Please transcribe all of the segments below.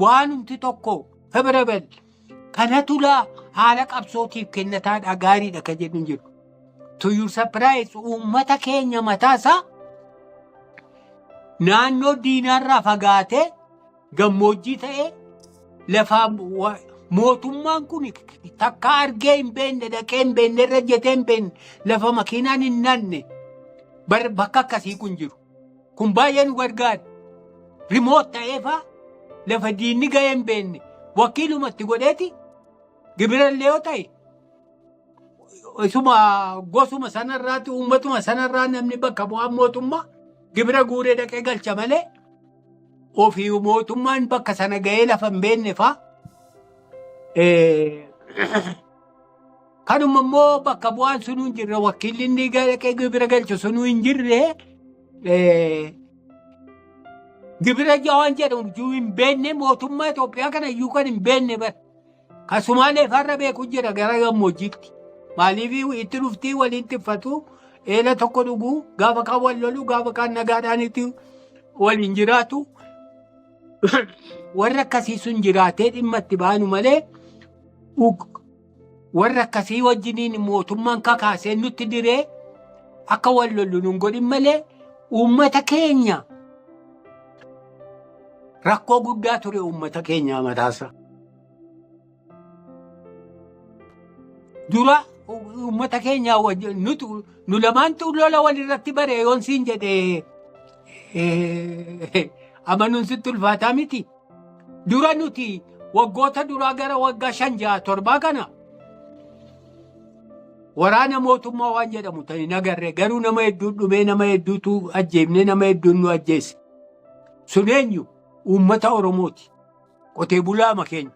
waanumti tokko favorable kana tulaa haala qabsootiif kennataadha gaariidha kan jedhu hin jiru. To your surprise uummata keenya mataa isaa naannoo diinaarraa fagaatee gammoojjii ta'ee lafaa wa- mootummaan kun takka argee hin beenne dhaqee hin beenne irra jetee hin beenne lafa makiinaan hin naanne bar- bakka akkasii kun jiru. Kun baay'ee nu gargaara. Rimoot ta'eefaa lafa diinni ga'ee hin beekne wakiilumatti godheeti gibirallee yoo ta'e isuma gosuma sanarraatti uummatuma sanarraa namni bakka bu'aan mootummaa gibira guuree dhaqee galcha malee ofii mootummaan bakka sana ga'ee lafa hin beekne faa Kanuma immoo bakka bu'aan sunuu hin jirre wakiilli inni dhaqee gibira galchu sunuu hin jirre gibira jawaan jedhamu iyyuu hin beekne mootummaa Itoophiyaa kana iyyuu kan hin beekne bara. Kan Sumaalee farra beeku jira gara gammoojjiitti. Maaliif itti dhuftii waliin tiffatu eela tokko dhuguu gaafa kaan wal lolu gaafa kaan nagaadhaan itti waliin jiraatu warra akkasii sun jiraatee dhimma itti baanu malee warra akkasii wajjiniin mootummaan kakaasee nutti diree akka wal lollu nun godhin malee uummata keenya rakkoo guddaa ture uummata keenyaa mataasa. dura uummata keenyaa wajjin nutu nu lamaantu lola walirratti bare yoon siin jedhe eh, amanuun sitti ulfaataa miti. Dura nuti waggoota duraa gara waggaa shan ja'a torbaa kana waraana mootummaa waan jedhamu ta'e hin agarre garuu nama hedduu dhumee nama hedduutu ajjeefne nama hedduun nu ajjeese. Sun eenyu uummata Oromooti. qotee bulaama keenya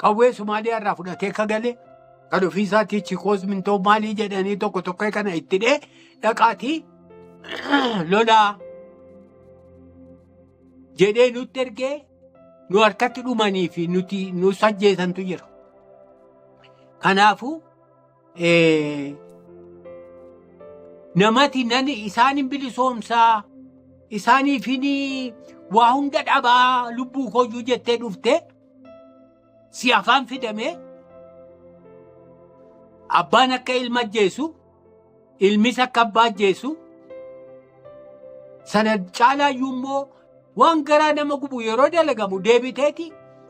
qawwee Somaaliyaa irraa fudhatee ka galee kan ofii isaatii chikoos mintoo maalii jedhanii tokko tokko kana itti dhee dhaqaatii lolaa jedhee nutti ergee nu harkatti dhumanii fi nuti nu sajjeesantu jira. Kanaafuu namati nani isaan hin bilisoomsaa isaaniifin waa hunda dhabaa lubbuu koyyuu jettee dhufte si afaan fidamee abbaan akka ilma ajjeesu ilmis akka abbaa ajjeesu sana caalaayyuu immoo waan garaa nama gubu yeroo dalagamu deebiteeti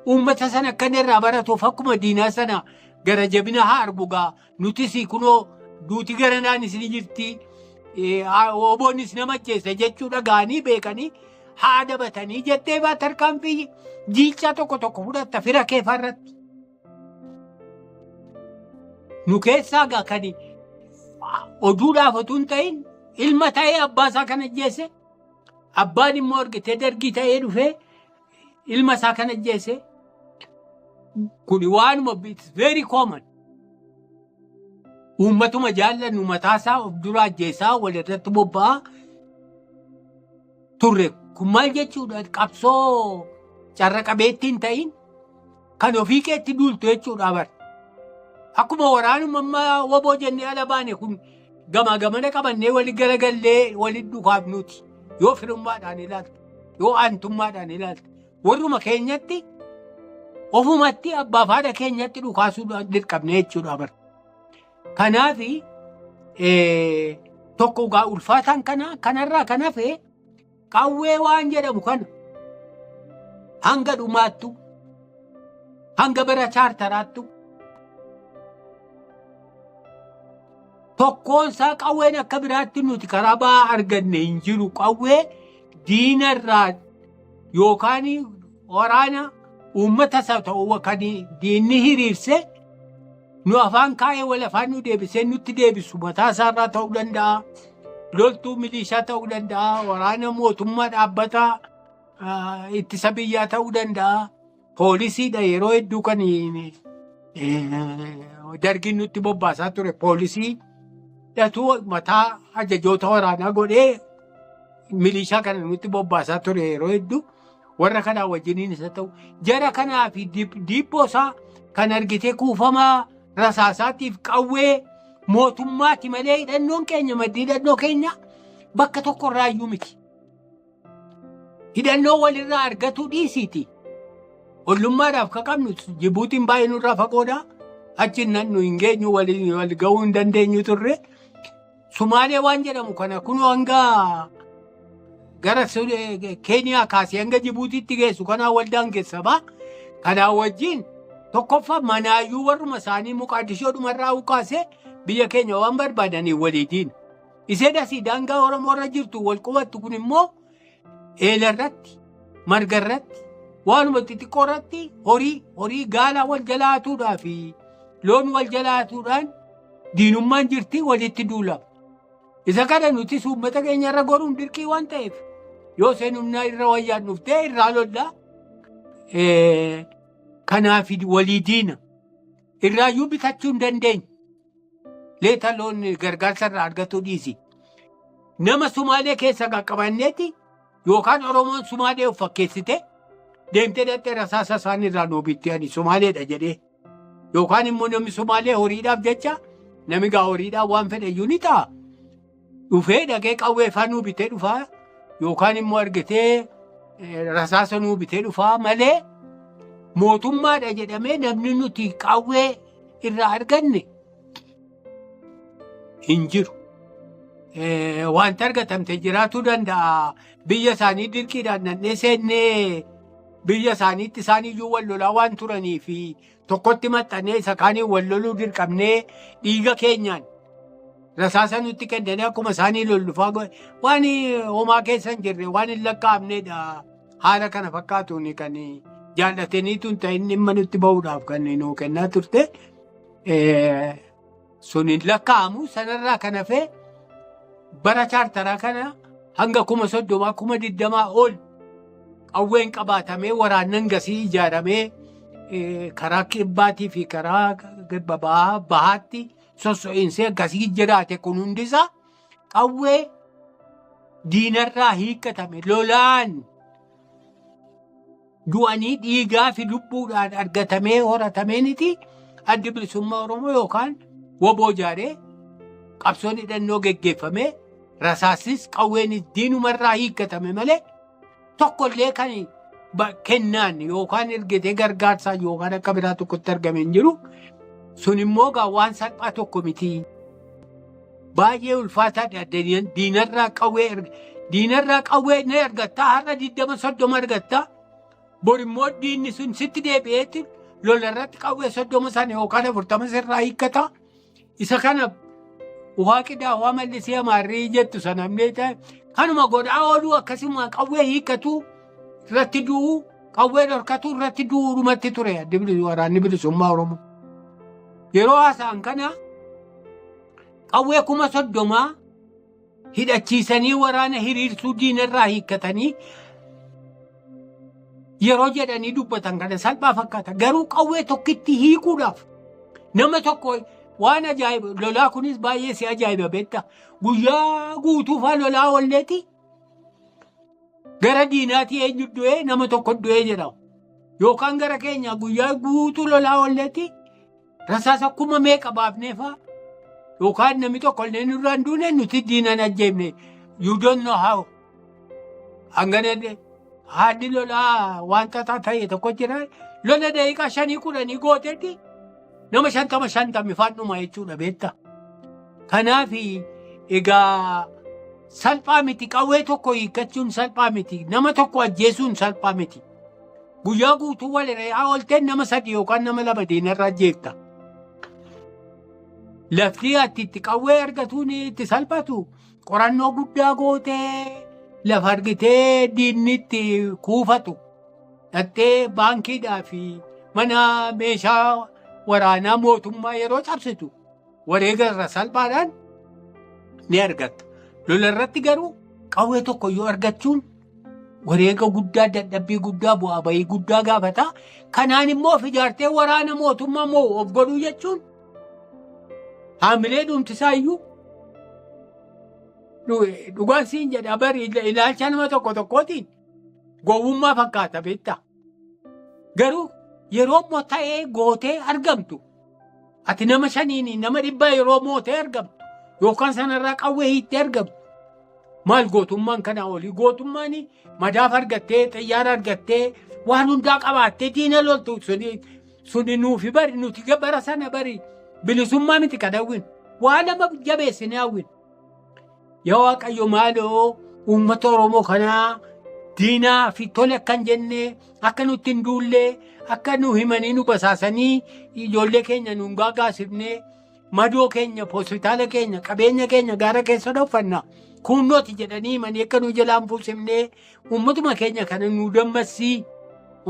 uummata sana akka inni irraa baratuuf akkuma diinaa sana gara jabina haa argugaa nutis kunoo duuti garanaan isin jirti oboonis nama ajjeese jechuu dhaga'anii beekanii haa dabatanii jettee baa tarkaanfii jiichaa tokko tokko fudhatta fira keefaarratti. Nu keessaa gaa kan oduudhaaf otuu hin ta'in ilma ta'ee abbaa isaa kan ajjeese abbaan immoo argitee dargii ta'ee dhufee ilma isaa kan ajjeese kun waanuma it's very common. Uummatuma jaallannu mataasaa of dura ajjeesaa walirratti bobba'aa turre kun maal jechuudha qabsoo carra qabeetti hin ta'in kan ofii keetti duultu jechuudha bar akkuma waraanuma amma waboo jennee ala baane kun gamaa gamana qabannee wali garagallee wali dukaaf nuti yoo firummaadhaan ilaalta yoo aantummaadhaan ilaalta warruma keenyatti ofumatti abbaa fi haadha keenyatti dhukaasuu dirqamne jechuudha bar Kanaaf tokko gaa ulfaataan kana kanarraa kan hafe qawwee waan jedhamu kana hanga dhumaattu hanga bara chaartaraattu tokkoon isaa qawween akka biraatti nuti karaa ba'aa arganne hin jiru qawwee diinarraa yookaan waraana uummata isa ta'u kan diinni hiriirse Nu afaan kaa'ee wal afaan nu deebisee nutti deebisu mataa isaarraa ta'uu danda'a. Loltuu milishaa ta'uu danda'a. Waraana mootummaa dhaabbataa ah, ittisa biyyaa ta'uu danda'a. Poolisiidha yeroo hedduu kan eh, dargiin nutti bobbaasaa ture poolisii dhatu mataa ajajoota waraanaa godhee milishaa kana nutti bobbaasaa ture yeroo hedduu. warra kanaa wajjiniin isa ta'u jara kanaa fi diibboo isaa kan argitee kuufamaa rasaasaatiif qawwee mootummaati malee hidhannoon keenya maddii hidhannoo keenya bakka tokko irraa iyyuu miti. Hidhannoo walirraa argatuu dhiisiiti. Ollummaadhaaf ka qabnu Jibuutiin baay'ee nurraa fagoodha. Achi nan nu hin geenyu wal ga'uu hin dandeenyu turre. Sumaalee waan jedhamu kana kunoo hanga gara Su- eh, Keeniyaa kaasee hanga Jibuutiitti geessu kanaa waldaan keessa ba'a. Kanaa wajjin tokkoffaa manaayyuu warruma isaanii muqaadishoo dhumarraa ukaasee biyya keenya waan barbaadaniif waliitiin. Isee dasii daangaa Oromoo irra jirtu wal qubattu kun immoo eela irratti marga irratti waanuma xixiqqoo irratti horii horii gaalaa wal jalaatuudhaa fi loon wal jalaatuudhaan diinummaan jirti walitti duulama. Isa kana nutis uummata keenya irra goruun dirqii waan ta'eef yoo seen humnaa irra wayyaan dhuftee irraa lollaa kanaaf walii diina irraayyuu bitachuu hin dandeenye. Leeta loon gargaarsa irraa argatu dhiisi. Nama Sumaalee keessa qaqqabanneeti yookaan Oromoon Sumaalee of fakkeessite deemtee dhaqxee rasaasa isaanii irraa nuu bitti ani Sumaaleedha jedhee. Yookaan immoo namni Sumaalee horiidhaaf jecha nami gaa horiidhaaf waan fedhe iyyuu ni ta'a. dhufee dhaqee qawwee faa nuu bitee dhufaa yookaan immoo argitee eh, rasaasa nuu bitee dhufaa malee mootummaadha jedhamee namni nuti qawwee irraa arganne hin jiru. Eh, Wanti argatamte jiraachuu danda'a. Biyya isaanii dirqiidhaan nannee seennee biyya isaaniitti isaan iyyuu wal lolaa waan turanii fi tokkotti maxxannee isa kaaniin wal loluu dirqamnee dhiiga keenyaan rasaasa nutti kennanii akkuma isaanii lollufaa godhe waan homaa keessa hin jirre waan hin lakkaa'amneedha haala kana fakkaatuun kan jaallataniitu hin ta'in dhimma nutti bahuudhaaf kan nuu kennaa turte. sun hin lakkaa'amu sanarraa kan hafee bara chaartaraa kana hanga kuma soddomaa kuma digdamaa ol qawween qabaatamee waraannan gasii ijaaramee eh, karaa kibbaatii fi karaa kibba bahaa bahaatti sosso'iinsee gasii jiraate kun hundisaa qawwee diinarraa hiikkatame lolaan du'anii dhiigaa fi lubbuudhaan argatamee horatameeniiti addi bilisummaa Oromoo yookaan woboo ijaaree qabsoon hidhannoo geggeeffamee rasaasis qawweenis diinumarraa hiikkatame malee tokkollee kan ba- kennaan yookaan ergetee gargaarsaan yookaan akka biraa tokkotti argame hin jiru. Sun immoo gaa waan salphaa tokko miti. Baay'ee ulfaataadha addeenyaan diinarraa qawwee erga. Diinarraa qawwee ni argatta har'a digdama soddoma argatta. Bor immoo diinni sun sitti deebi'eetti lolarratti qawwee soddoma sana yookaan afurtama sirraa hiikkata. Isa kana waaqidhaa waa mallisee amaarrii jettu sana amnee ta'e kanuma godhaa ooluu akkasuma qawwee hiikkatu. irratti du'uu qawwee dhorkatuu irratti du'uu dhumatti ture addi bilis- waraanni bilisummaa Oromoo. Yeroo haasa'an kana qawwee kuma soddomaa hidhachiisanii waraana hiriirsuu diinarraa hiikkatanii yeroo jedhanii dubbatan kana salphaa fakkaata. Garuu qawwee tokkitti hiikuudhaaf nama tokko waan ajaa'iba lolaa kunis baay'ee si ajaa'iba beekta. Guyyaa guutuufaa lolaa olleeti Gara diinaatii eenyu du'ee nama tokko du'ee jedhamu. Yookaan gara keenya guyyaa guutuu lolaa olleetti rasaasa kuma meeqa baafneefaa yookaan namni tokko illee nurraan duune nuti diinan ajjeefne you don't know how. Hangana haalli lolaa waan xaxaa ta'e tokko jira. Lola daqiiqaa shanii kudhanii gooteetti Nama shantama shantamni faadhuma jechuudha beekta. Kanaaf egaa salphaa miti qawwee tokko hiikkachuun salphaa miti nama tokko ajjeesuun salphaa miti. Guyyaa guutuu wal re'aa oolteen nama sadi yookaan nama lama diinarraa ajjeefta. Lafti ati itti qawwee argatuun itti salphatu qorannoo guddaa gootee lafa argitee diinni itti kuufatu. dhattee baankiidhaa fi mana meeshaa waraanaa mootummaa yeroo cabsitu wareega irra salphaadhaan ni argatta. Lola irratti garuu qawwee tokko yoo argachuun wareega guddaa dadhabbii guddaa bu'aa bahii guddaa gaafata. Kanaan immoo of ijaartee waraana mootummaa moo of godhuu jechuun haamilee dhumtisaa iyyuu dhugaan siin jedha bari ilaalcha nama tokko tokkootiin Gowwummaa fakkaata beektaa. Garuu yeroo immoo ta'ee gootee argamtu ati nama shaniin nama dhibbaa yeroo mootee argamtu yookaan sanarraa qawwee hiittee argamtu maal gootummaan kanaa olii gootummaan madaaf argattee xiyyaara argattee waan hundaa qabaattee diina loltu suni suni nuufi bari nuti ga- bara sana bari bilisummaa miti kan hawwin waa nama jabeessine hawwin Yaa Waaqayyo maaloo uummata Oromoo kanaa diinaa fi tole akka hin jenne akka nutti hin duulle akka nu himanii nu basaasanii ijoollee keenya nuun gaagaasifne madoo keenya hospitaala keenya qabeenya keenya gaara keessa dhoffanna kuunnooti jedhanii himanii akka nu jalaan buusimne uummatuma keenya kana nu dammassii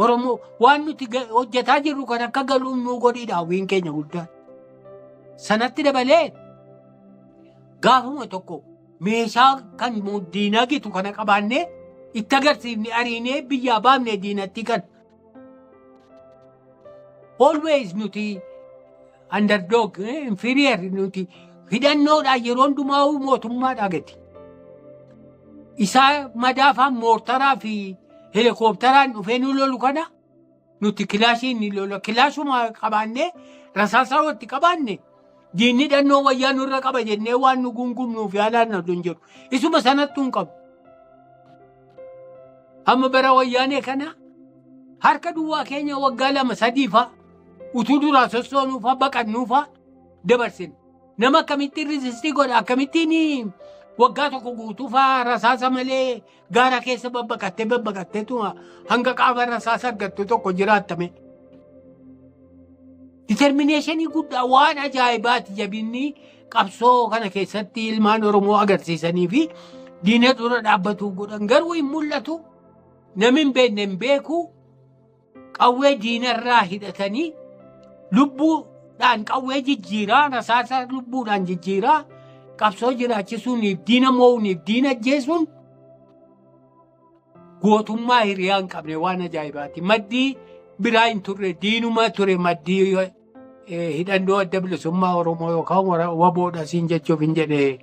Oromoo waan nuti ga- hojjetaa jirru kan akka galuun nu godhiidha hawwiin keenya guddaan. Sanatti dabalee gaafuma tokko meeshaa kan diinaa gitu kana qabaannee itti agarsiifne ariinee biyyaa baafne diinatti kan always nuti underdog eh, inferior nuti hidhannoodhaan yeroo hundumaa mootummaa dhagati. Isaa madaafaan moortaraa fi helikoophtaraan dhufee nu lolu kana Nuti kilaashii ni lola. Kilaashuma qabaannee rasaasaa walitti qabaanne diinni dhannoo wayyaa nurra qaba jennee waan nu gungumnuuf yaalaan na hin jedhu. Isuma sanattu hin qabu. Amma bara wayyaanee kana harka duwwaa keenya waggaa lama sadii fa'a utuu duraa sossoonuu fa'a baqannuu fa'a dabarsina. Nama akkamittiin riizistii godha akkamittiin waggaa tokko guutuu fa'a rasaasa malee Gaara keessa babbaqattee babbaqattee tuma hanga qaama irra isaa sargattu tokko jiraattame. Ditermineeshinii guddaa waan ajaa'ibaati jabinni qabsoo kana keessatti ilmaan Oromoo agarsiisanii fi diina dura dhaabbatuu godhan garuu hin mul'atu. Namni hin beekne hin beeku. qawwee diinarraa hidhatanii lubbuudhaan qawwee jijjiiraa rasaasa lubbuudhaan jijjiiraa qabsoo jiraachisuuniif diina mo'uuniif diina ajjeesuun gootummaa hiriyaa hin qabne waan ajaa'ibaati. Maddii biraa hin turre diinuma ture maddii hidhannoo adda bilisummaa Oromoo yookaan wara- waboodha siin jechuuf hin jedhe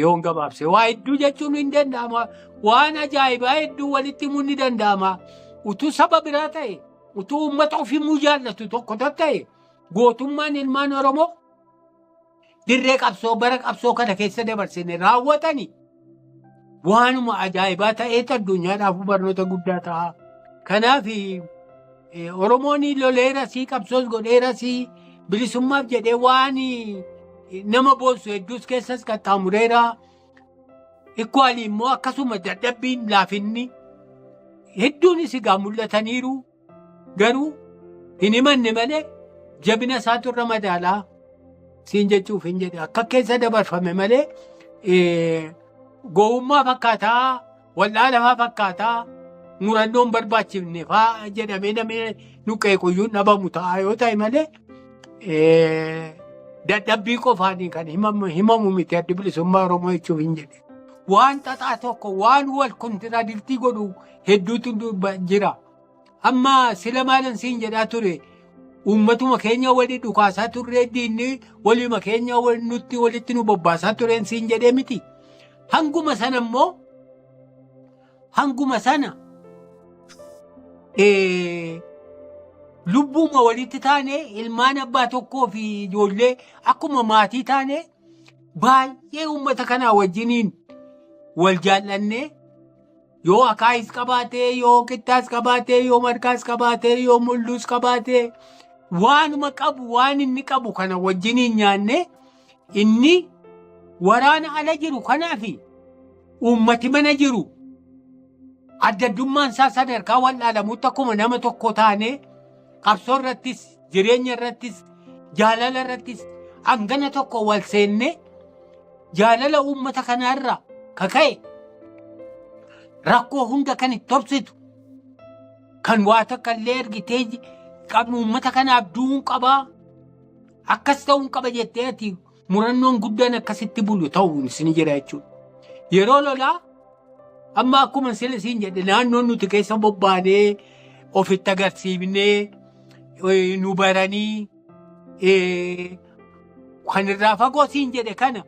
yoon gabaabse. Waa hedduu jechuun hin danda'ama. Waan ajaa'ibaa hedduu walitti himuun ni danda'ama. Utuu saba biraa ta'e, utuu uummata ofii muu jaallatu tokko ta'e, gootummaan ilmaan Oromoo dirree qabsoo bara qabsoo kana keessa dabarsine raawwatani waanuma ajaa'ibaa ta'eetu addunyaadhaaf barnoota guddaa ta'a. Kanaaf eh, Oromoon loleerasii qabsoos godheerasii bilisummaaf jedhee waan eh, nama boonsu hedduus keessas qaxxaamureera. Ikkuwaali immoo akkasuma dadhabbiin laafinni hedduunis egaa mul'ataniiru. Garuu hin himanne malee jabina isaatu irra madaalaa siin jechuuf hin jedhe. Akka keessa dabarfame malee eh, gowwummaa fakkaataa, wal'aalafaa fakkaataa, murannoon barbaachifne faa jedhamee namni nuqee quyyuun dhabamu ta'a yoo ta'e malee eh, dadhabbii qofaan kan himamu himamu miti addi bilisummaa Oromoo jechuuf hin jedhe. waan xaxaa tokko waan wal kontiraadirtii godhu hedduutu dubba- jira. Amma sila maalan siin jedhaa ture uummatuma keenya wali dhukaasaa turree diinni walima keenya wal- nutti walitti nu bobbaasaa tureen siin jedhee miti. Hanguma sana immoo hanguma sana eh, lubbuuma walitti taane ilmaan abbaa tokkoo fi ijoollee akkuma maatii taane baay'ee uummata kanaa wajjiniin wal jaallannee yoo akaayis qabaatee yoo qittaas qabaatee yoo markaas qabaatee yoo mulluus qabaatee waanuma qabu waan inni qabu kana wajjiniin nyaannee inni waraana ala jiru kanaaf uummati mana jiru addaddummaan isaa sadarkaa wal'aalamuutti akkuma nama tokko taanee qabsoo irrattis jireenya irrattis jaalala irrattis hangana tokko wal seennee jaalala uummata kanaa irraa ka ka'e rakkoo hunda kan itti obsitu kan waa takka illee ergitee qabnu uummata kanaaf du'uun qabaa akkas ta'uun qaba jettee ati murannoon guddaan akkasitti bulu ta'uun isin jira jechuudha. Yeroo lolaa amma akkuma sila siin jedhe naannoon nuti keessa bobbaanee ofitti agarsiifnee eh, nu baranii eh, kan irraa fagoo siin jedhe kana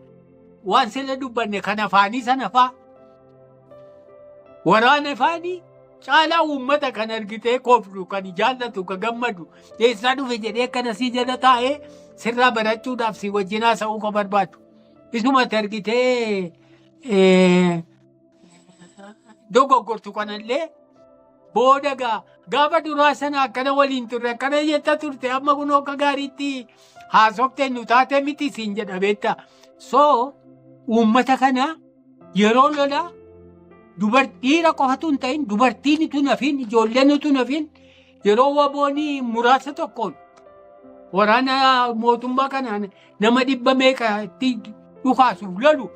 waan sila dubbanne kan afaanii sana faa Waraana faanii caalaa uummata kan argitee kooflu kan jaallatu kan gammadu eessaa dhufe jedhee akkana sii jala taa'ee sirraa barachuudhaaf si wajjin haasa'uu kan barbaadu. Isumatti argitee dogoggortu kanallee booda gaa gaafa duraa sana akkana waliin turre akkana jetta turte amma kun akka gaariitti haasofte nu taate miti siin jedha beektaa. So uummata kana Yeroo lolaa dubartiira qofatu hin ta'in dubartiin utuu nafiin ijoolleen utuu nafiin yeroo waboonii muraasa tokkoon waraana mootummaa kanaan nama dhibba meeqa itti dhukaasuuf lolu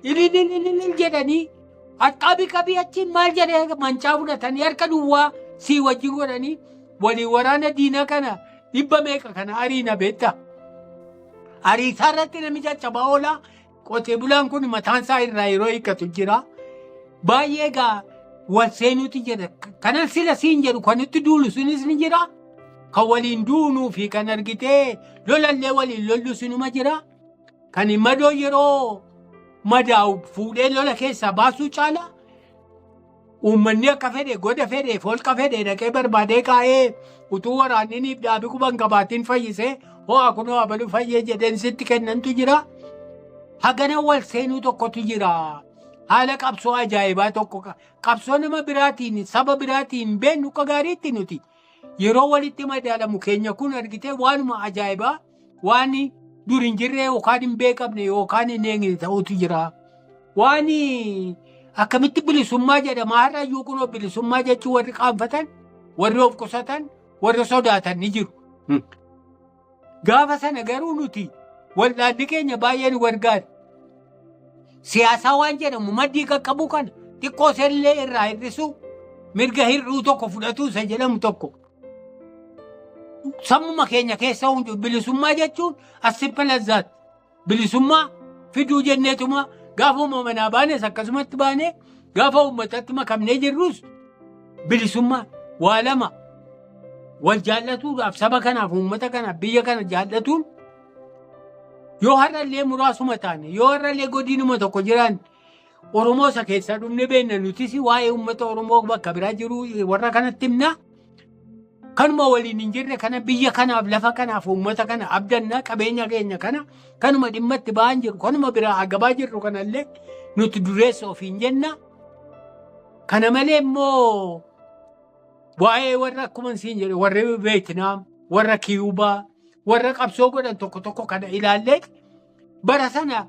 ililililil jedhanii harkaa biqabii achiin maal jedhee mancaa fudhatanii harka duwwaa sii wajjin godhanii walii waraana diinaa kana dhibba meeqa kana ariina beektaa. Ariisaa irratti namicha cabaa oolaa Qotee bulaan kun mataan isaa irraa yeroo hiikkatu jira. Baay'ee egaa wal seenuuti jedha. Kanan sila siin jedhu kan itti duulu sunis ni jira. Kan waliin duunuu fi kan argitee lolallee waliin lollu sinuma jira. Kan madoo yeroo madaa'u fuudhee lola keessaa baasuu caala. Uummanni akka fedhe goda fedhe holqa fedhe dhaqee barbaadee kaa'ee utuu waraanni niif dhaabi quban qabaatiin fayyisee ho'a kunoo abalu fayyee jedheen sitti kennantu jira. Hagana wal seenuu tokkotu jira. Haala qabsoo ajaa'ibaa tokko qa- qabsoo nama biraatiin saba biraatiin beennu akka gaariitti nuti yeroo walitti madaalamu keenya kun argitee waanuma ajaa'ibaa waan dur hin jirree yookaan hin beekamne yookaan hin eegne ta'utu jira. Waan akkamitti bilisummaa jedhama har'a iyyuu kunoo bilisummaa jechuun warri qaanfatan, warri of qusatan, warri sodaatan ni jiru. Gaafa sana garuu nuti wal'aanni keenya baay'ee nu gargaara. Siyaasaa waan jedhamu maddii qaqqabuu kana xiqqoo sellee irraa hir'isuu mirga hir'uu tokko fudhatuu isa jedhamu tokko. sammuma keenya keessa hundu bilisummaa jechuun as simple as that. Bilisummaa fiduu jenneetuma gaafa uumamanaa baanes akkasumatti baanee gaafa uummatatti makamnee jirrus bilisummaa waa lama wal jaallatuudhaaf saba kanaaf uummata kanaaf biyya kana jaallatuun yoo har'allee muraasuma taane yoo har'allee godinuma tokko jiraan Oromoo isa keessaa dhumne beekna nutis waa'ee uummata Oromoo bakka biraa jiru warra kanatti himna. Kanuma waliin hin jirre kana biyya kanaaf lafa kanaaf uummata kana abdanna qabeenya keenya kana kanuma dhimma itti ba'an jiru kanuma biraa agabaa jirru kanallee nuti dureessa ofiin jenna. Kana malee immoo waa'ee warra akkuma siin jedhe warri Veetinaam, warra Kiyuubaa, warra qabsoo godhan tokko tokko kana ilaallee Bara sana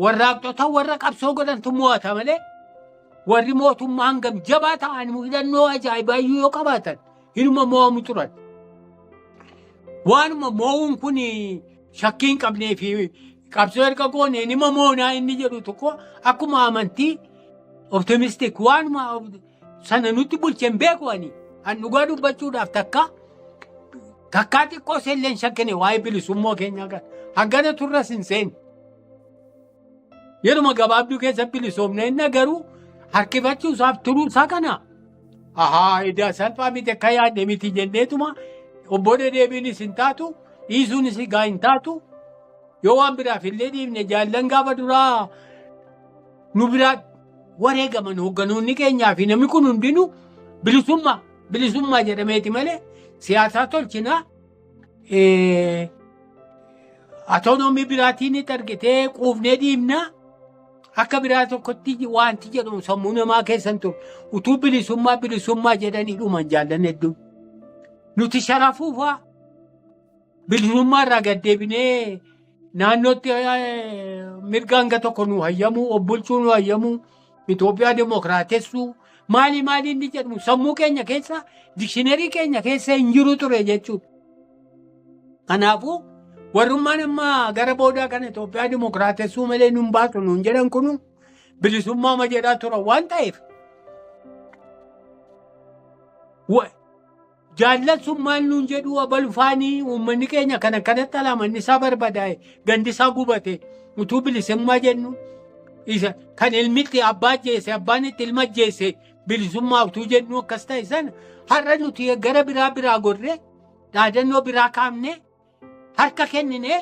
warraaqxota warra qabsoo godhantu mo'ata malee warri mootummaa hangam jabaa ta'an hidhannoo ajaa'ibaa iyyuu yoo qabaatan hinuma mo'amu turan. Waanuma mo'uun kun shakkii hin qabnee fi qabsoo erga goonee nima moonaa inni jedhu tokko akkuma amantii optimistik waanuma sana nutti bulche hin beeku ani. An dhugaa dubbachuudhaaf takka takkaa xiqqoo seellee hin shakkine waa'ee bilisummaa keenyaa kan hangana turras hin seenne. Yeruma gabaabduu keessa bilisoomne inni garuu harkifachuu isaaf turuu isaa kana. Ahaa edaa salphaa miti akka yaadne miti jenneetuma obbo dedeebiinis hin taatu dhiisuunis egaa hin taatu yoo waan biraaf illee dhiifne jaallan gaafa duraa nu biraa wareegaman hoogganoonni keenyaa fi namni kun hundinuu bilisummaa bilisummaa jedhameeti malee siyaasaa tolchinaa eh, atoonoomii biraatiin ni targetee quufnee dhiibnaa akka biraa tokkotti wanti jedhamu sammuu namaa keessan ture utuu bilisummaa bilisummaa jedhanii dhuman jaallan hedduun nuti sharafuufaa Bilisummaa irraa gad deebinee naannootti mirga hanga tokko nu hayyamu, obbulchuu nu hayyamu, Itoophiyaa demokraatessuu maali maali inni jedhamu sammuu keenya keessa dikshinerii keenya keessa hin jiru ture jechuudha. Kanaafuu warrummaan amma gara boodaa kana Itoophiyaa demokraatessuu malee nun baatu nun jedhan kunu bilisummaa ma jedhaa turan waan ta'eef. Jaallan sun maal nuun jedhuu abalu faanii uummanni keenya kan akkanatti alaa manni isaa barbadaa'e gandi isaa gubate utuu bilisummaa jennu isa kan ilmitti abbaa ajjeese abbaan itti ilma ajjeese bilisummaa utuu jennu akkas ta'e sana har'a nuti gara biraa biraa gorree dhaadannoo biraa kaafnee harka kenninee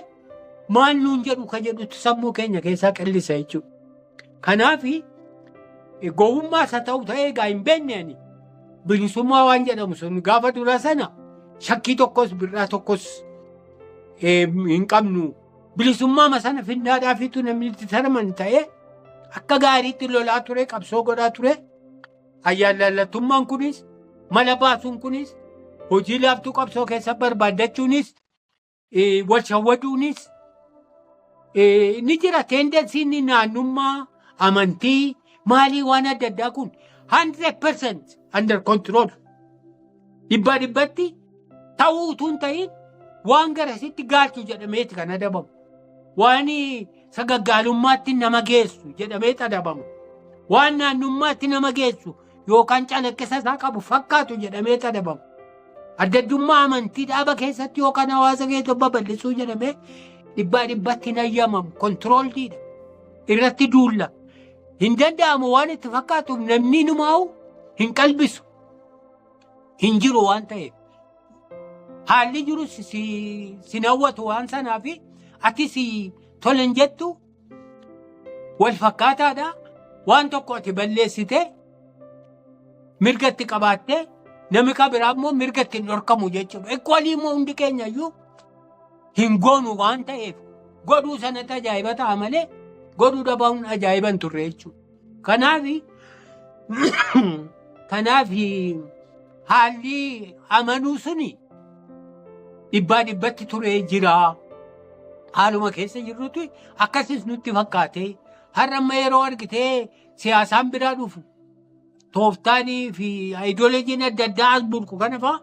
maal nuun jedhu ka jedhutu sammuu keenya keessaa qillisa jechuudha. Kanaaf gowwummaa isa ta'u ta'ee egaa hin beekne ani bilisummaa waan jedhamu sun gaafa dura sana shakkii tokkos birraa tokkos eh, hin qabnu. Bilisummaa sana finnaadhaafiitu namni itti saraman ta'ee akka gaariitti lolaa ture qabsoo godhaa ture. Ayyaallallattummaan kunis mala baasuun kunis hojii laaftuu qabsoo keessa barbaaddachuunis wal shawwaduunis ni jira teendensiin naannummaa amantii maalii waan adda addaa kun 100% under control Dhibbaa dhibbatti ta'uu utuu hin ta'in waan garasitti gaalchu jedhameeti kan adabamu. Waan sagaggaalummaatti nama geessu jedhameeti adabamu. Waan naannummaatti nama geessu yookaan calaqqisa isaa qabu fakkaatu jedhameeti adabamu. Adda addummaa amantii dhaaba keessatti yookaan hawaasa keessa babal'isuu jedhamee dhibbaa dhibbatti hin ayyamamu. Kontirooldiidha. Irratti duulla. Hin danda'amu waan itti fakkaatuuf namni numaa'u hin qalbisu. hin jiru waan ta'eef haalli jiru si- si- sin hawwatu waan sanaaf ati si tole hin jettu wal fakkaataadha waan tokko ati balleessite mirga itti qabaatte nami ka biraa immoo mirga itti hin dhorkamu jechuudha. Equalii immoo hundi keenya iyyuu hin goonu waan ta'eef godhuu sanatti ajaa'iba ta'a malee godhuu dhabamuun ajaa'iba hin turre jechuudha. Kanaaf kanaaf haalli amanuu suni dhibbaa dhibbatti turee jira. Haaluma keessa jirrutti akkasis nutti fakkaate. Har'a amma yeroo argitee siyaasaan biraa dhufu tooftaanii fi ayidoolojiin adda addaa as burqu kana fa'a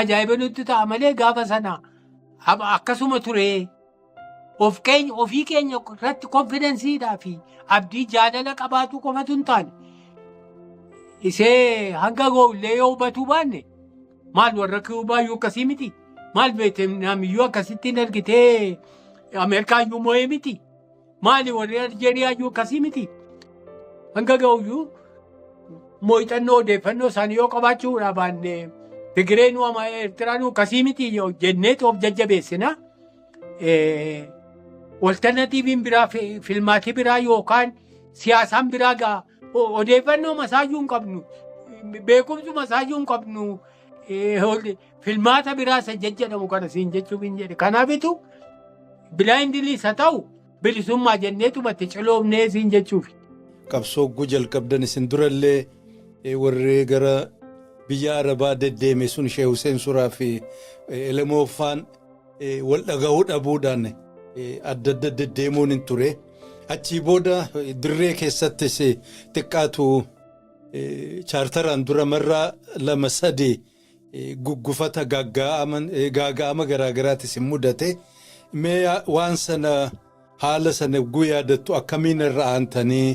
ajaa'iba nutti ta'a malee gaafa sana akkasuma turee. Of keenya ofii keenya irratti konfidensiidhaa fi abdii jaalala qabaatuu qofatu hin taane isee hanga goollee yoo hubatuu baanne maal warra kiubaayyuu akkasii miti maal veetinaamiyyuu akkasitti hin argitee ameerikaayyuu moo'ee miti maali warri aljeeriyaayyuu akkasii miti hanga ga'uyyuu moo'ixannoo odeeffannoo isaanii yoo qabaachuudhaa baanne Tigireenuu ama Eertiraanuu akkasii miti jennee of jajjabeessina. eh, walternatiiviin biraa fi- filmaatii biraa yookaan siyaasaan biraa gaa o- odeeffannoo masaayyuu hin qabnu beekumsu masaayyuu hin qabnu eh, hol- filmaata biraa isa jajjadhamu kana siin jechuuf hin jedhe kanaafitu bilaayindiliis haa ta'u Bilisummaa jenneetuma itti ciloomnee siin jechuufi. Qabsoo ogguu jalqabdan isin durallee warri gara biyya Arabaa deddeeme sun Sheeh Huseen Suraa fi Elemoo Faan wal dhagahuu dhabuudhaan adda adda deddeemuun hin ture. Achii booda dirree keessattis xiqqaatu chaartaraan dura marraa lama sadii guggufata gaaga'ama garaa garaati isin mudate mee waan sana haala sana yogguu yaadattu akkamiin irra aantanii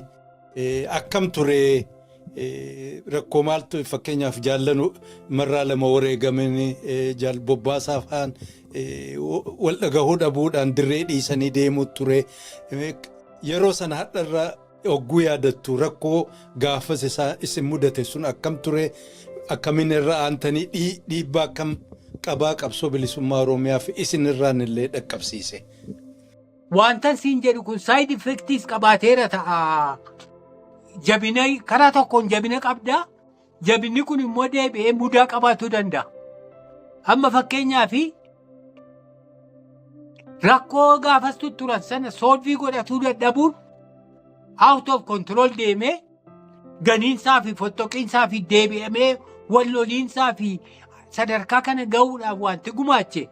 akkam ture rakkoo maaltu fakkeenyaaf jaallanu marraa lama wareegamin jaal bobbaasaa fa'aan wal dhagahuu dhabuudhaan dirree dhiisanii deemuu ture yeroo sana hadharra Yogguu yaadattu rakkoo gaafas isaa isin mudate sun akkam ture? Akkamiin irra aantanii dhii, dhiibbaa akkam qabaa qabsoo bilisummaa Oromiyaaf isin irraan illee dhaqqabsiise? Waantan siin jedhu kun side effects qabaateera ta'a. Jabina karaa tokkoon jabina qabda, jabinni kun immoo deebi'ee mudaa qabaachuu danda'a. Amma fakkeenyaaf rakkoo gaafas tutturan sana soolvii godhatuu dadhabuun out of control deemee ganiinsaa fi fottoqiinsaa fi deebi'amee wal loliinsaa fi sadarkaa kana ga'uudhaaf wanti gumaache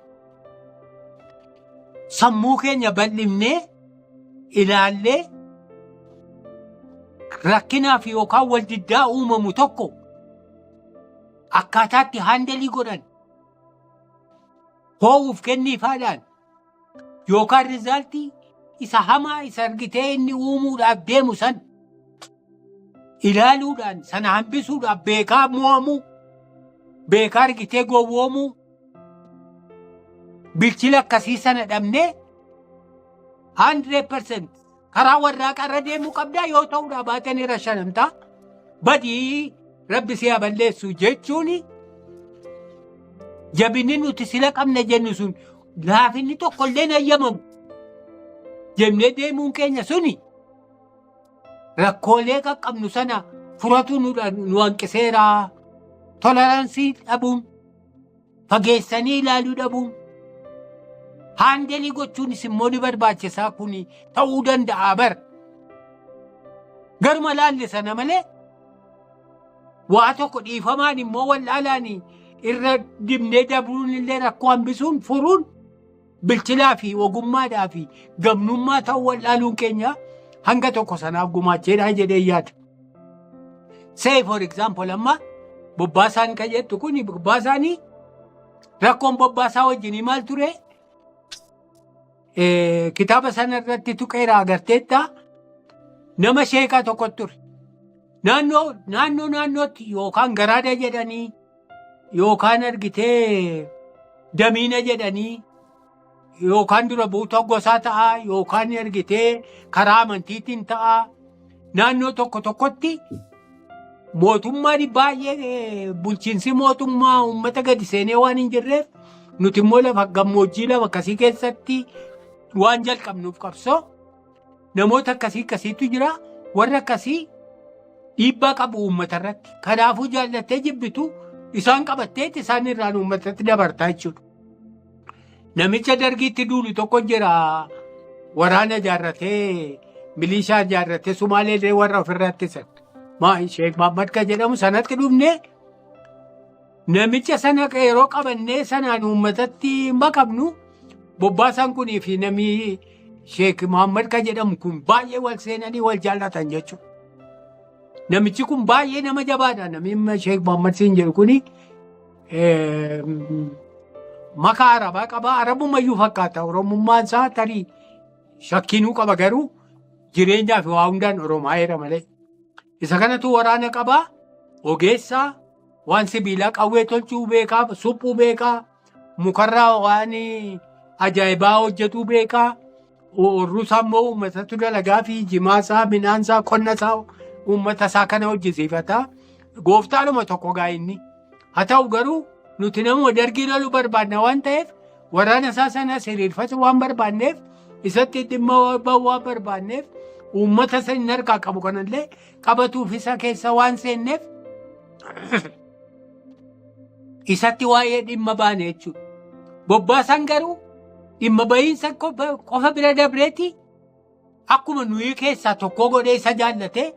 sammuu keenya bal'ifnee ilaallee rakkinaaf yookaan wal diddaa uumamu tokko akkaataatti haandalii godhan hoo'uuf kenniifaadhaan yookaan rizaaltii isa hamaa isa argitee inni uumuudhaaf deemu san ilaaluudhaan sana hambisuudhaaf beekaa mo'amuu beekaa argitee gowwoomuu Bilchina akkasii sana dhabnee 100% karaa warraaqaa irra deemuu qabdaa yoo ta'uu dhabaatan irra shanamtaa badii rabbi si haa balleessu jechuun jabinni nuti sila qabna jennu sun laafinni tokkollee hin hayyamamu jennee deemuun keenya suni rakkoolee qaqqabnu sana furatu nu dha- nu hanqiseera. Toleraansii dhabuun, fageessanii ilaaluu dhabuun, haandelii gochuunis immoo ni barbaachisaa kun ta'uu danda'a bar. Garuma laalle sana malee waa tokko dhiifamaan immoo wal'aalaan irra dibnee dabruun illee rakkoo hambisuun furuun bilchinaa fi ogummaadhaa fi gamnummaa ta'uu wal'aaluun keenya hanga tokko sanaaf gumaacheedhaa jedhee yaada. Say for example amma bobbaasaan kan jettu kun bobbaasaanii rakkoon bobbaasaa wajjinii maal ture? Eh, Kitaaba sana irratti tuqeera agarteetta nama sheekaa tokko ture. Naannoo naannoo naannootti yookaan garaada jedhanii yookaan argitee damiina jedhanii yookaan dura buutoo gosaa ta'aa yookaan argitee karaa amantiitiin ta'aa naannoo tokko tokkotti mootummaan baay'ee eh, bulchiinsi mootummaa uummata gadi seenee waan hin jirreef nuti immoo lafa gammoojjii lama akkasii keessatti waan jalqabnuuf qabsoo Namoota akkasii akkasiitu jira. Warri akkasii dhiibbaa qabu uummata irratti. Kanaafuu jaallattee jibbitu isaan qabatteetti isaan irraan uummatatti dabartaa jechuudha. Namicha dargiitti duulu tokko jira. Waraana ijaarratee, milishaa ijaarratee, Sumaaleellee warra ofirraa ittisan. Maa Sheek Mahammad kan jedhamu sanatti dhufnee Namicha sana yeroo qabannee sanaan uummatatti maqabnu bobbaasaan kunii fi namni Sheek Muhammad kan jedhamu kun baay'ee wal seenanii wal jaallatan jechuudha. Namichi kun baay'ee nama jabaadha. Namni Sheek Muhammad siin jedhu kuni makaa arabaa qaba. Arabumayyuu fakkaata. Oromummaan isaa tarii shakkiinuu qaba garuu jireenyaa fi waa hundaan Oromaa jedha malee. Isa kanatu waraana qabaa, ogeessaa, waan sibiilaa qawwee tolchuu beekaa, suphuu beekaa, mukarraa waan ajaa'ibaa hojjetuu beekaa, urruusaa immoo uummatatu dalagaa fi jimaasaa, midhaansaa, qonnasaa uummatasaa kana hojjisiifata. Gooftaadhuma tokko gaa inni. Haa ta'u garuu nuti nama dargii lolu barbaadna waan ta'eef waraana isaa sana siriirfatu waan barbaadneef isatti dhimma ba'uu waan barbaadneef uummata isa inni harkaa qabu kanallee qabatuuf isa keessa waan seenneef isatti waa'ee dhimma baane jechuudha. Bobbaasan garuu dhimma bahiinsa qofa bira dabreeti Akkuma nuyi keessaa tokkoo godhee isa jaallatee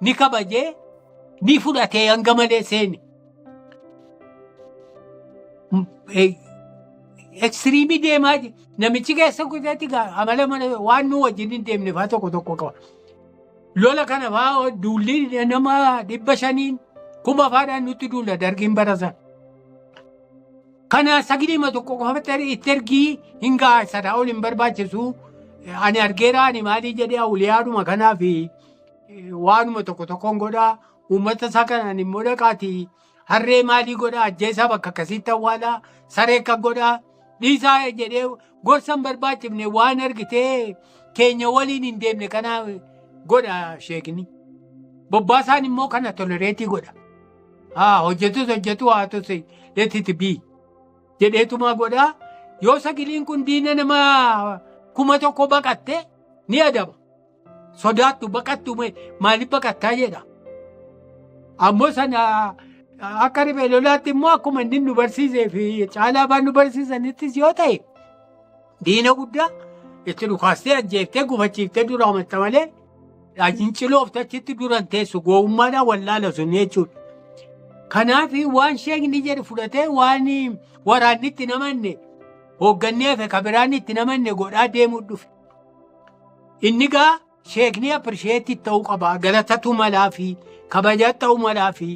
ni kabajee ni fudhatee hanga malee seeni. Ekstiriimii deemaa jira. Namichi keessa guuteetti amala mana waan nu wajjin hin deemne fa'aa tokko tokko qaba. Lola kana fa'aa duulli nama dhibba shaniin kuma faadhaan nutti duula dargiin barasan. Kana sagilima tokko qofatti itti ergii hin ga'a sana ol hin barbaachisu. Ani argeera ani maalii jedhee awuliyaadhuma kanaa fi waanuma tokko tokkoon godha. Uummata isaa kanaan immoo dhaqaati harree maalii godha ajjeesaa bakka akkasiitti awwaala saree akka godha dhiisaa jedhee Gorsa hin barbaachifne waan argitee keenya waliin hin deemne kanaa godha sheekni. Bobbaasaan immoo kana tolereetii godha. Haa hojjetus hojjetu haa tus letiti bii jedheetumaa godha. Yoo sagiliin kun diina nama kuma tokko baqatte ni adaba. Sodaattu baqattu maaliif baqattaa jedha. Ammoo sana akka riphee lolaatti immoo akkuma inni nu barsiisee fi caalaa afaan nu barsiisanittis yoo ta'e diina guddaa itti dhukaastee ajjeeftee gufachiiftee dura amatta malee ciloofte achitti duran teessu gowwummaadhaan wallaala sun jechuudha. Kanaaf waan sheekni jedhu fudhatee waan waraanni itti namanne hooggannee fi kabiraan itti namanne godhaa deemuu dhufe. Inni gaa sheekni appirisheetti ta'uu qaba. Galatatu malaa fi kabajaa ta'uu malaa fi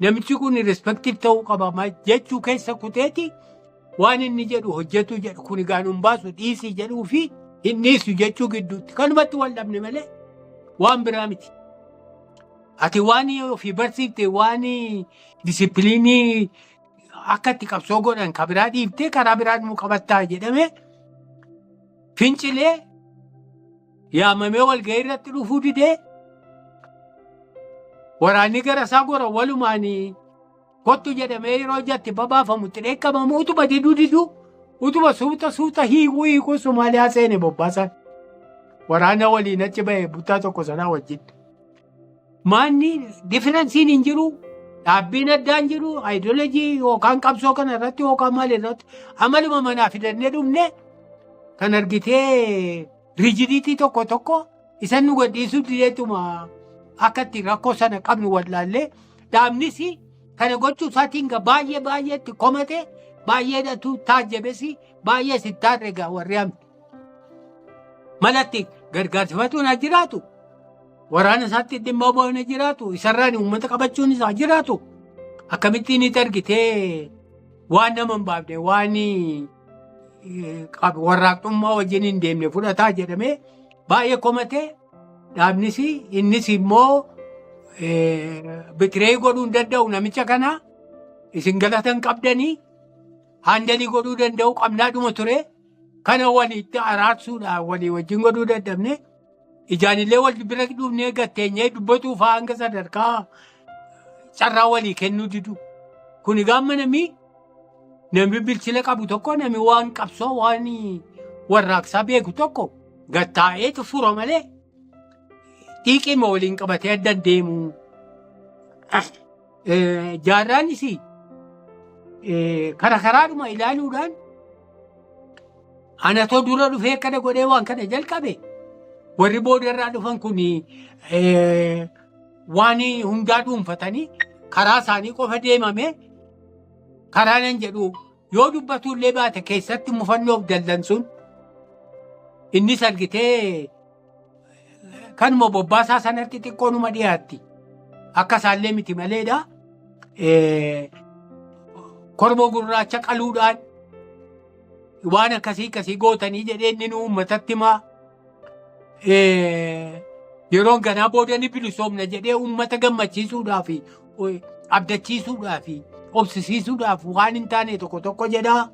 namichi kun rispektiif ta'uu qaba ma- jechuu keessa kuteeti waan inni jedhu hojjetu jedhu kun egaa nun baasu dhiisii jedhuu fi hin dhiisu jechuu gidduutti kanumatti wal dhabne malee waan biraa miti. Ati waan ofii barsiifte waan disipiliinii akka itti qabsoo godhan kan biraa dhiiftee karaa biraa nu qabattaa jedhamee fincilee yaamamee walgahii irratti dhufuu didee waraanni gara isaa gora walumaan kottu jedhamee yeroo jatti babaafamu itti dheekkamamu utuma diduu diduu utuma suuta suuta hiikuu hiikuu Somaaliyaa seene bobbaasaan waraana waliin achi ba'e buttaa tokko sanaa wajjin. Maanni difiransiin hin jiru. Dhaabbiin addaa hin jiru. Ayidoolojii yookaan qabsoo kana irratti yookaan maal irratti amaluma manaa fidannee dhumne kan argitee riijidiitii tokko tokko isan nu gadhiisuu dideetuma akka itti rakkoo sana qabnu wallaallee dhaabnis kana gochuu isaatiin gaa baay'ee baay'ee itti komate baay'eedhatu taajjabesi baay'ee sittaarre gaa warri hamti. Malatti gargaarsifatuun haa jiraatu. Waraana isaatti dhimma ba'uun haa jiraatu. Isarraan uummata qabachuun isaa jiraatu. Akkamittiin itti argitee waan nama hin baafne waan warraaqxummaa wajjin hin deemne fudhataa jedhamee baay'ee komatee dhaabnis innis immoo bitiree godhuu hin danda'u namicha kana isin galatan qabdanii haandalii godhuu danda'u qabnaadhuma ture. Kana walitti araarsuudhaan walii wajjin godhuu dadhabne ijaanillee wal bira dhufnee gatteenyee dubbatuu fa'aa hanga sadarkaa carraa walii kennuu didu. Kun egaa namni namni bilchina qabu tokko namni waan qabsoo waan warraaqsaa beeku tokko gattaa'eetu fura malee dhiiqiima waliin qabatee adda deemu. Jaarraan isii kara karaadhuma ilaaluudhaan anatoo dura dhufee akkana godhee waan kana jalqabe warri boodarraa dhufan kun waan hundaa dhuunfatanii karaa isaanii qofa deemame karaa nan jedhu yoo dubbatullee baate keessatti mufannoof dallansuun innis argitee Kanuma bobbaasaa sanatti xiqqoo numa dhiyaatti. Akka isaallee miti maleedha. Kormoo gurraacha qaluudhaan waan akkasii akkasii gootanii jedhee inni nuu uummatatti himaa. Yeroon ganaa booda ni bilisoomna jedhee uummata gammachiisuudhaaf abdachiisuudhaaf obsisiisuudhaaf waan hin taane tokko tokko jedhaa.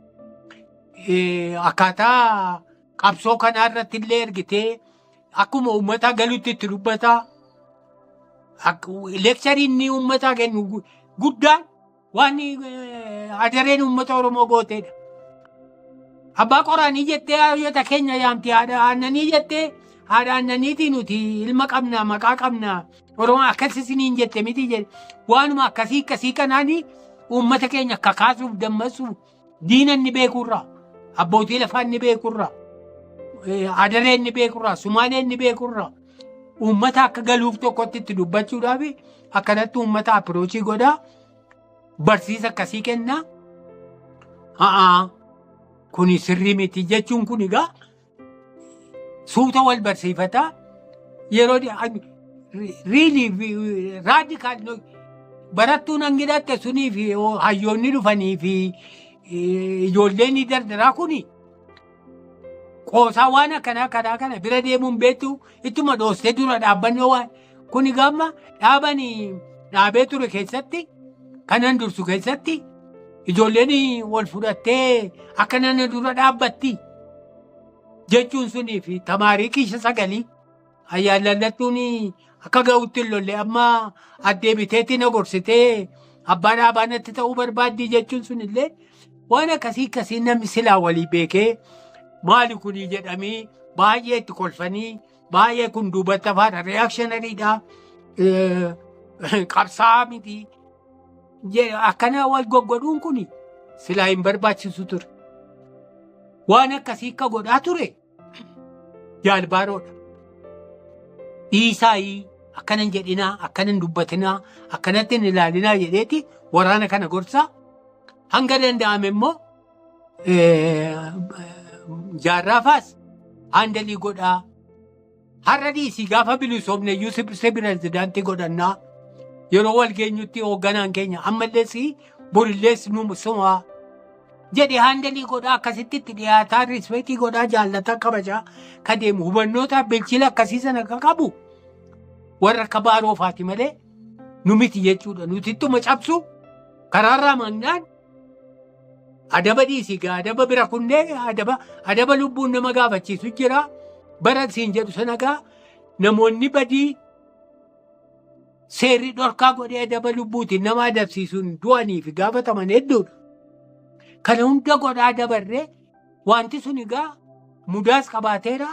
Akkaataa Qabsoo kanaa irratti illee ergitee akkuma uummataa galutti itti dubbataa. Leekcharii inni uummataa kennu gu- guddaan waan eh, adareen uummata Oromoo gooteedha. Abbaa qoraanii jettee hayyota keenya yaamti haadha aannanii jettee haadha aannaniitii nuti ilma qabna maqaa qabna Oromoo akkas isiniin jette miti jedhe waanuma akkasii akkasii kanaanii uummata keenya kakaasuuf dammaqsuuf Diina inni beekurraa, abbootii lafaa inni beekurraa, eh, adaree inni beekurraa, sumaalee inni beekurraa, uummata akka galuuf tokkotti itti dubbachuudhaaf akkanatti uummata apiroochii godhaa, barsiisa akkasii kennaa. Haa kuni sirrii miti jechuun kun egaa Suuta wal barsiifataa yeroo riilii fi raadikaal barattuun hangi dhatte sunii fi hayyoonni dhufanii fi ijoolleen dardaraa kun qoosaa waan akkanaa karaa kana bira deemuun beektu ittuma dhoostee dura dhaabbannoo waan Kuni gamma dhaaban dhaabee ture keessatti kanan dursu keessatti ijoolleen wal fudhattee akka nana dura dhaabbatti jechuun sunii fi tamaarii kiisha sagalii ayyaan lallattuun akka ga'utti hin lolle amma addee biteetti na gorsitee abbaa dhaabaa natti ta'uu barbaaddii jechuun sunillee waan akkasii akkasii namni silaa walii beekee maali kunii jedhamee baay'ee itti kolfanii Baay'ee kun duubatti hafaadha. Reaakshinaridha. Qabsaa'aa miti. Akkana wal goggodhuun kun silaa hin barbaachisu ture. Waan akkasii akka godhaa ture jaalbaaroodha. Dhiisaayii akkana hin jedhinaa, akkana hin dubbatinaa, akkanatti hin ilaalinaa jedheeti waraana kana gorsaa hanga danda'ame immoo eh, jaarraafaas haandalii godhaa har'a dhiisii gaafa bilisoomne iyyuu si si pirezidaantii godhannaa yeroo wal geenyutti hoogganaan keenya ammallees borillees nu sumaa jedhe haandalii godhaa akkasitti itti dhiyaataa rispeetii godhaa jaallataa kabajaa ka deemu hubannootaa bilchila akkasii sana ka qabu warra akka baaroofaati malee nu miti jechuudha nuti ittuma cabsu karaarraa mannaan Adaba dhiisii gaa adaba bira kunnee adaba adaba lubbuun nama gaafachiisu jira. Bara siin jedhu sana gaa namoonni badii seerri dhorkaa godhee adaba lubbuutiin nama adabsiisuun du'aniif gaafataman hedduudha. Kana hunda godhaa dabarree Wanti sun egaa mudaas qabaateera,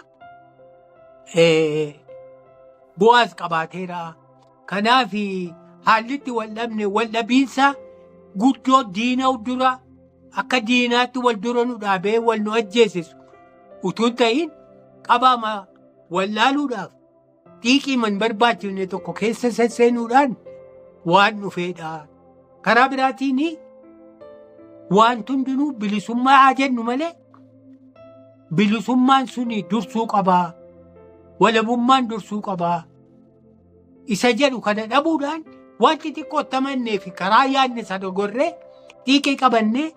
eh, bu'aas qabaateera. Kanaaf haalli itti wal dhabne wal dhabiinsa guddoo diina dura akka diinaatti wal dura nu dhaabee wal nu ajjeesisu utuu hin ta'in qabaama wal laaluudhaaf xiiqii man barbaachifne tokko keessa sesseenuudhaan waan dhufeedha. Karaa biraatiin wanti hundinuu bilisummaa haa jennu malee bilisummaan sun dursuu qabaa walabummaan dursuu qabaa isa jedhu kana dhabuudhaan wanti xiqqoo tamannee fi karaa yaadne isa dogorree xiiqii qabannee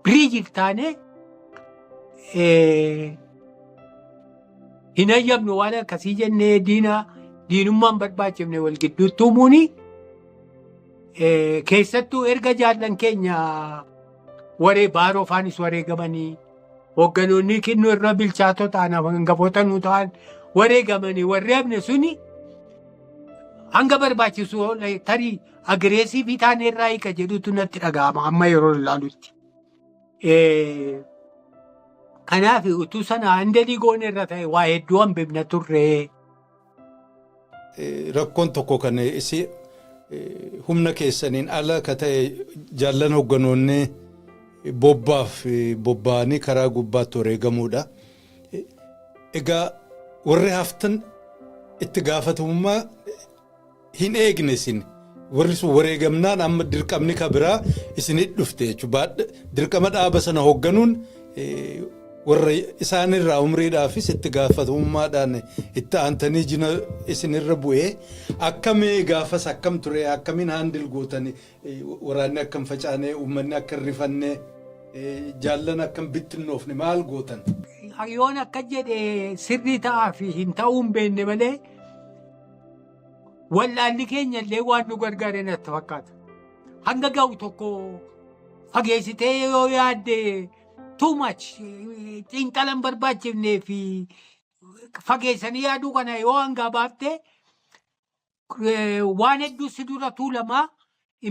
biriijiif taanee eh, hin hayyamnu waan akkasii jennee diinaa diinummaan barbaachifne wal gidduutti uumuun keessattuu erga jaallan keenya waree baaroo faanis wareegamanii hoogganoonni kinnuu irra bilchaatoo ta'an hangafoota nuu ta'an wareegamanii warri hafne suni hanga barbaachisu tarii agireesiivii taanee irraa hiika jedhutu natti dhaga'ama amma yeroo ilaalutti. Eh, Kanaaf utuu sana handa digoon irra ta'e waa hedduu hambifna turre. Eh, rakkoon tokko kan isi eh, humna keessaniin ala ka ta'e jaallan hogganoonni bobbaaf eh, bobba'anii karaa gubbaatti wareegamuudha. Eh, Egaa warri haftan itti gaafatamummaa hin eegne isin warri sun wareegamnaan amma dirqamni ka biraa isinit dhufte jechuudha. Dirqama dhaaba sana hoogganuun warra isaanirraa umriidhaafis itti gaafatamummaadhaan itti aantanii jina isinirra bu'ee akkamee gaafas akkam ture akkamiin haandil gootan waraanni akkam facaanee uummanni akka hin rifanne jaallan akkam bittinnoofne maal gootan. Yoon akka jedhe sirrii ta'aa fi hin ta'uu hin beekne malee. wallaalli keenya illee waan nu gargaare natti fakkaata. Hanga ga'u tokko fageessitee yoo yaadde too much xiinxala hin barbaachifnee fi fageessanii yaaduu kana yoo hangaa baafte eh, waan hedduu si dura tuulamaa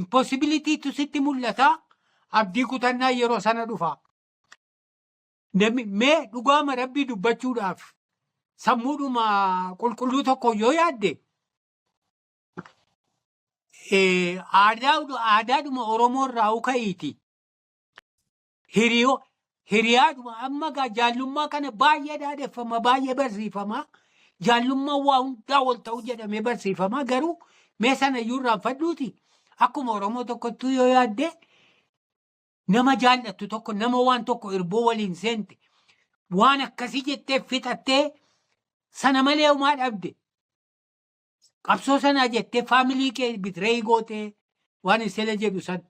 impossibilitytu sitti mul'ata abdii kutannaa yeroo sana dhufa. Namni mee dhugaama rabbii dubbachuudhaaf sammuudhuma qulqulluu tokko yoo yaadde eh, aadaa- aadaadhuma Oromoo irraa uka'iiti. Hiriyoo hiriyaadhuma amma gaa jaallummaa kana baay'ee dhaadheffama baay'ee barsiifama. Jaallummaan waa hundaa wal ta'uu jedhamee barsiifama garuu mee sana iyyuu irraanfadhuuti akkuma Oromoo tokkottuu yoo yaadde Nama jaallattu tokko nama waan tokko irboo waliin seente waan akkasii jettee fixattee sana malee homaa dhabde. Qabsoo sanaa jettee faamilii kee bitiree gootee waan isela jedhu san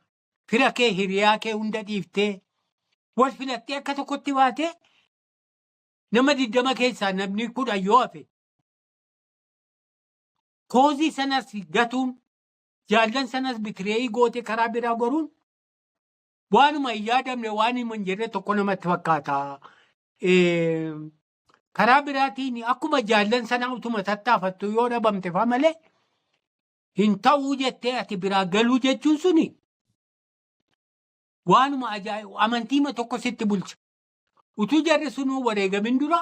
fira kee hiriyaa kee hunda dhiiftee wal filattee akka tokkotti baatee nama digdama keessaa namni kudhan yoo hafe koozii sanas gatuun jaallan sanas bitiree gootee karaa biraa goruun waanuma hin yaadamne waan hima hin jirre tokko namatti fakkaata. Eh, Karaa biraatiin akkuma jaallan sana utuma tattaafattu yoo dhabamte fa malee hin ta'uu jettee ati biraa galuu jechuun suni waanuma ajaa'ibu amantiima tokko sitti bulcha. Utuu jarri sunuu wareegamin dura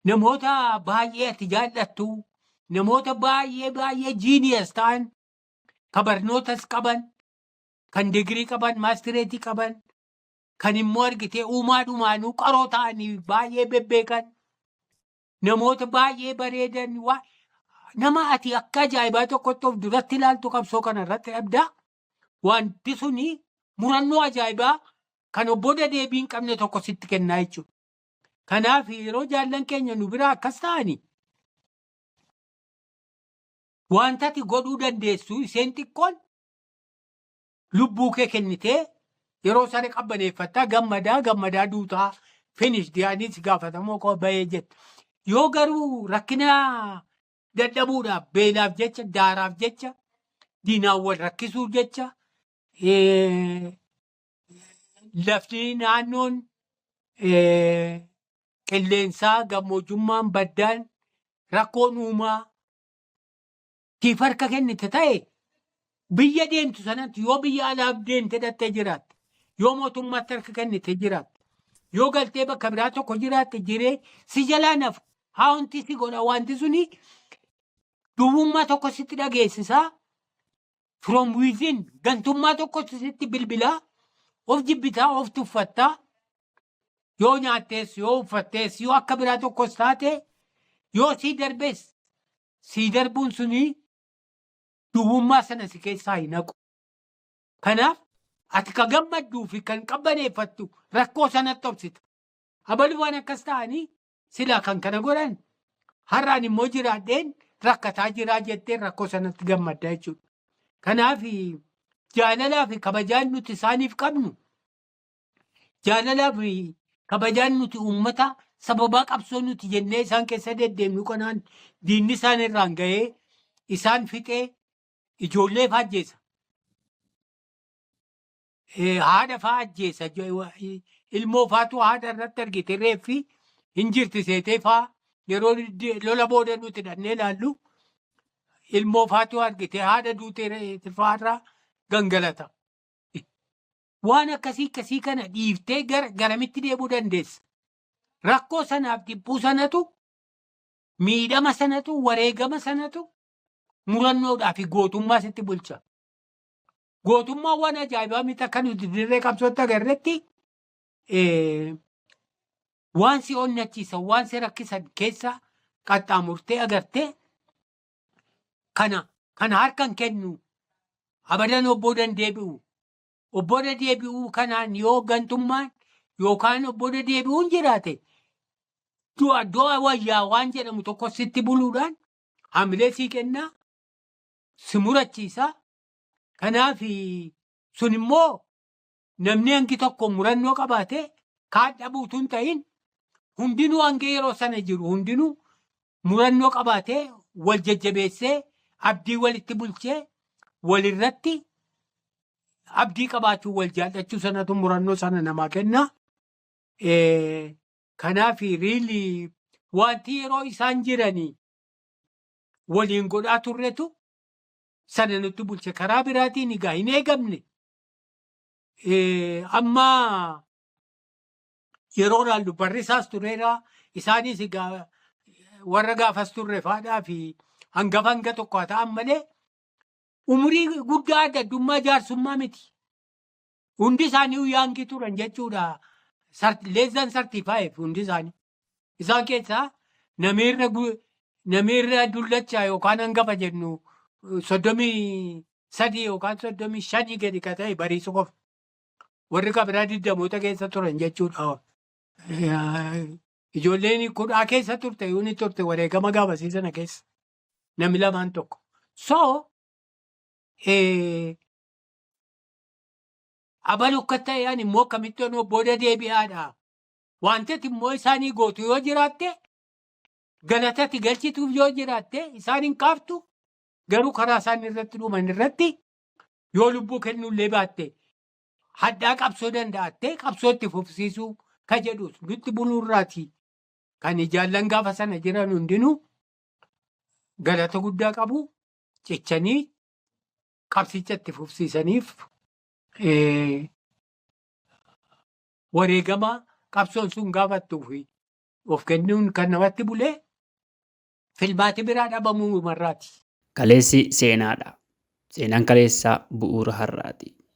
namoota baay'ee ati jaallattu namoota baay'ee baay'ee jiiniyas ta'an ka barnootas qaban, kan digirii qaban, maastireetii qaban, kan immoo argitee uumaa dhumaanuu qaroo ta'anii baay'ee bebbeekan, namoota baay'ee bareedan, waa- nama ati akka ajaa'ibaa tokkotti of duratti ilaaltu qabsoo kana irratti dhabdaa. Wanti suni murannoo ajaa'ibaa kan obbo deebii hin qabne tokko sitti kennaa jechuudha. Kanaaf yeroo jaallan keenya nu biraa akkas ta'ani Wantati godhuu dandeessu isheen xiqqoon lubbuu kee kennitee yeroo sana qabbaneeffattaa gammadaa gammadaa duutaa finish diyaaniis gaafatamoo koo bahee jette. Yoo garuu rakkina dadhabuudhaaf beelaaf jecha daaraaf jecha diinaan wal rakkisuuf jecha eh, lafti naannoon eh, qilleensaa gammoojummaan baddaan rakkoon uumaa tiif harka kennite ta'e biyya deemtu sanatti yoo biyya alaaf deemte dhattee jiraatte yoo mootummaatti harka kennite jiraatte yoo galtee bakka biraa tokko jiraatte jiree si jalaa nafu haawunti si godha wanti suni duwwummaa tokko sitti dhageessisaa from within gantummaa tokkotu sitti bilbilaa of jibbitaa of tuffattaa yoo nyaattees yoo uffattees yoo akka biraa tokkos taate yoo sii darbees sii darbuun suni duwwummaa sana si keessaa hin haqu. Kanaaf ati ka gammadduu fi kan qabbaneeffattu rakkoo sanatti obsita. Abalumaan akkas ta'anii Silaa kan kana godhan har'aan immoo jiraadheen rakkataa jiraa jettee rakkoo sanatti gammadda jechuudha. Kanaaf jaalalaa fi kabajaan nuti isaaniif qabnu jaalalaa fi kabajaan nuti uummata sababaa qabsoo nuti jennee isaan keessa deddeemnu kanaan diinni isaan irraan ga'ee isaan fixee ijoollee faajjeessa. eh, haadha faa ajjeessa jo- wa- i- ilmoo faatu haadha irratti argite reeffi hin jirti seetee faa yeroo di- lola booda nuti dhannee laallu ilmoo faatu argite haadha duute reeffi faarraa gangalata. Waan akkasii akkasii kana dhiiftee gara garamitti deemuu dandeessa. Rakkoo sanaaf dhibbuu sanatu miidhama sanatu wareegama sanatu murannoodhaa fi gootummaa sitti bulcha. gootummaa waan ajaa'ibaa miti akka nuti dirree qabsootti agarretti eh, waan si onnachiisan waan si rakkisan keessa qaxxaamurtee agartee kana kana harkan kennu abadan obboo dandeebi'u obboo deebi'uu kanaan yoo gantummaan yookaan obboo deebi'uun jiraate du'a du'a wayyaa waan jedhamu tokko sitti buluudhaan hamilee sii kennaa si murachiisaa Kanaaf sun immoo namni hangi tokko murannoo qabaate kaan dhabuu utuu hin ta'in hundinuu hanga yeroo sana jiru hundinuu murannoo qabaatee wal jajjabeessee abdii walitti bulchee walirratti abdii qabaachuu wal jaallachuu sanatu murannoo sana namaa kenna. Eh, Kanaaf riilii wanti yeroo isaan jiranii waliin godhaa turretu sana nutti bulche karaa biraatiin egaa hin eegamne Eh, amma yeroo laallu barrisaas tureera isaanis egaa warra gaafas turre faadhaa fi hangafa hanga tokko haa ta'an malee umurii guddaa adda addummaa jaarsummaa miti. Hundi isaanii yaangi turan jechuudha. Less than 35 hundi isaanii. Isaan keessaa namiirra gu- namiirra dullacha yookaan hangafa jennu eh, soddomii sadii yookaan soddomii shanii gadi ka ta'e bariisu qofa. Warri ka biraa digdamoota keessa turan jechuudha. Eh, Ijoolleen kudhaa keessa turte yoo ni turte wareegama gaafasii sana keessa namni lamaan tokko. So eh, abalu akka ta'e ani immoo akkamitti onoo booda deebi'aadha. Wanti ati immoo isaanii gootu yoo jiraatte, galata ati galchituuf yoo jiraatte isaan hin qaaftu, garuu karaa isaan irratti dhuman irratti yoo lubbuu kennuullee baatte hadhaa qabsoo danda'attee qabsoo itti fufsiisuu ka jedhus nutti buluu irraati kan ijaallan gaafa sana jiran hundinuu galata guddaa qabu cichanii qabsicha itti fufsiisaniif eh, wareegama qabsoon sun gaafattuu fi of kennuun kan namatti bulee filmaati biraa dhabamuu marraati. Kaleessi seenaadha. Seenaan kaleessaa bu'uura har'aati.